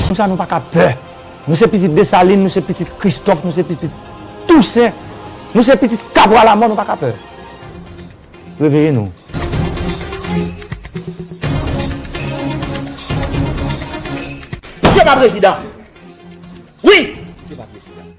Pou sa nou pa ka pè. Nou se pitit Desalin, nou se pitit Kristòf, nou se pitit Tousen, nou se pitit Kabwa Lamò, nou pa ka pè. Reveye nou. Misye pa prezidan. Wi! Misye pa prezidan.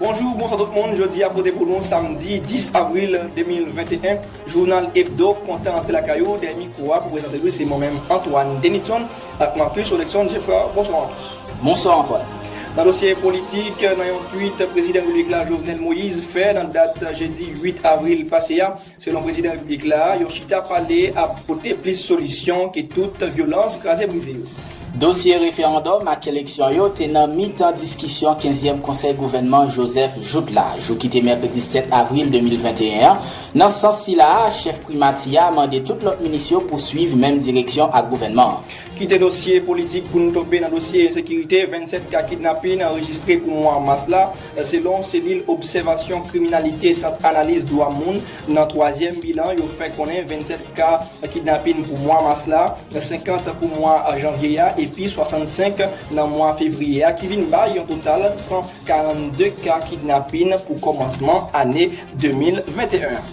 Bonjou, bonswa tout moun, jodi a pote pou nou samdi 10 avril 2021, jounal Ebdo kontan antre lakay ou, dèyè mikwo a pou prezante l wi se mwen menm Antoine Denitson ak Marcus Olexon Geffrard, bonswa Marcus. Bonswa Antoine. Nan dosye politik, nan yon tweet prezidan repiblik la Jovenel Moïse fè nan dat jedi 8 avril pase a, Selon prezidan repiblik la, yon chita pale ap pote plis solisyon ke tout vyolans kraze brize yo. Dosye referandòm ak eleksyon yo te nan mitan diskisyon kenzyèm konsèy gouvènman Joseph Jouthe la, jou ki te mèkredi 7 avril 2021 an. Nan sans sila a, chèf primati a mande tout lòt minis yo pou swiv menm direksyon ak gouvènman an. Kite dosye politik pou n tonbe nan dosye ensekirite, 27 ka kidnapin anrejistre pou mwa mas la. Selon Selil Obsèvasyon Kriminalite Sant Analiz Dwa Moun, nan twazyèm bilan yo fè konnen 27 ka kidnapin pou mwa mas la, 50 pou mwa janvye a epi 65 nan mwa fevriye a ki vin bay yon total 142 ka kidnapin pou kòmansman ane 2021 an.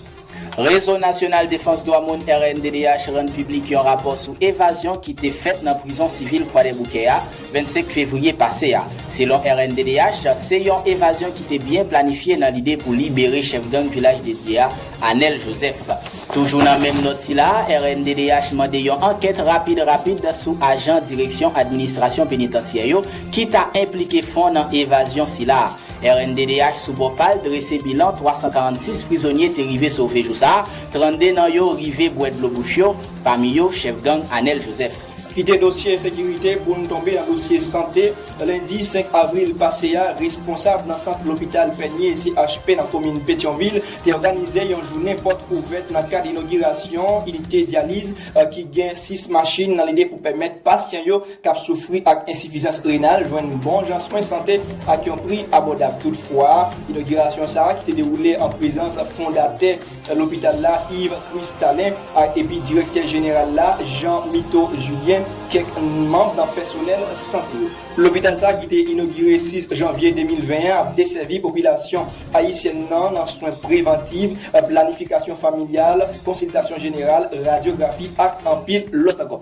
Rezo Nasyonal Defans Dwa Moun, rnddh, rann piblik yon rapò sou evazyon ki te fèt nan prizon sivil Kwadèboukè a, 25 fevriye pase a. Selon rnddh, se yon evazyon ki te byen planifye nan lide pou libere chèf gang Vilaj de Dye a, Anèl Jozèf. Toujou nan menm nòt sila, rnddh mande yon ankèt rapid rapid sou ajan Direksyon Administrasyon Penitansyè yo ki ta enplike fon nan evazyon sila. Rnddh sou bò pa l drese bilan 346 prizonye te rive sove jou sa, 32 nan yo rive bwè dlo bouch yo, pami yo chèf gang Anel Joseph. Kite dosye sekirite pou n tonbe nan dosye sante. Lendi 5 avril pase a, responsab nan sant lopital Pènye, CHP, nan komin Petyonvil te òganize yon jounen pòt ouvèt nan kad inogirasyon inite dyaliz ki gen 6 machin nan lide pou pèmèt pasyan yo k ap soufri ak ensifizans renal jwenn bon jan swen sante ak yon pri abòdab. Toutfwa, inogirasyon sa a ki te dewoule an prezans fondatè lopital la, Yves Christallin, ak epi direktè jeneral la, Jean Mito Julien, kèk manm nan pèsonèl sante yo. Lopital sa a ki te inogire 6 janvye 2020 an ap desèvi popilasyon ayisyèn nan nan swen prevantiv, planifikasyon familyal, konsiltasyon jeneral, radyografi ak anpil lòt ankò.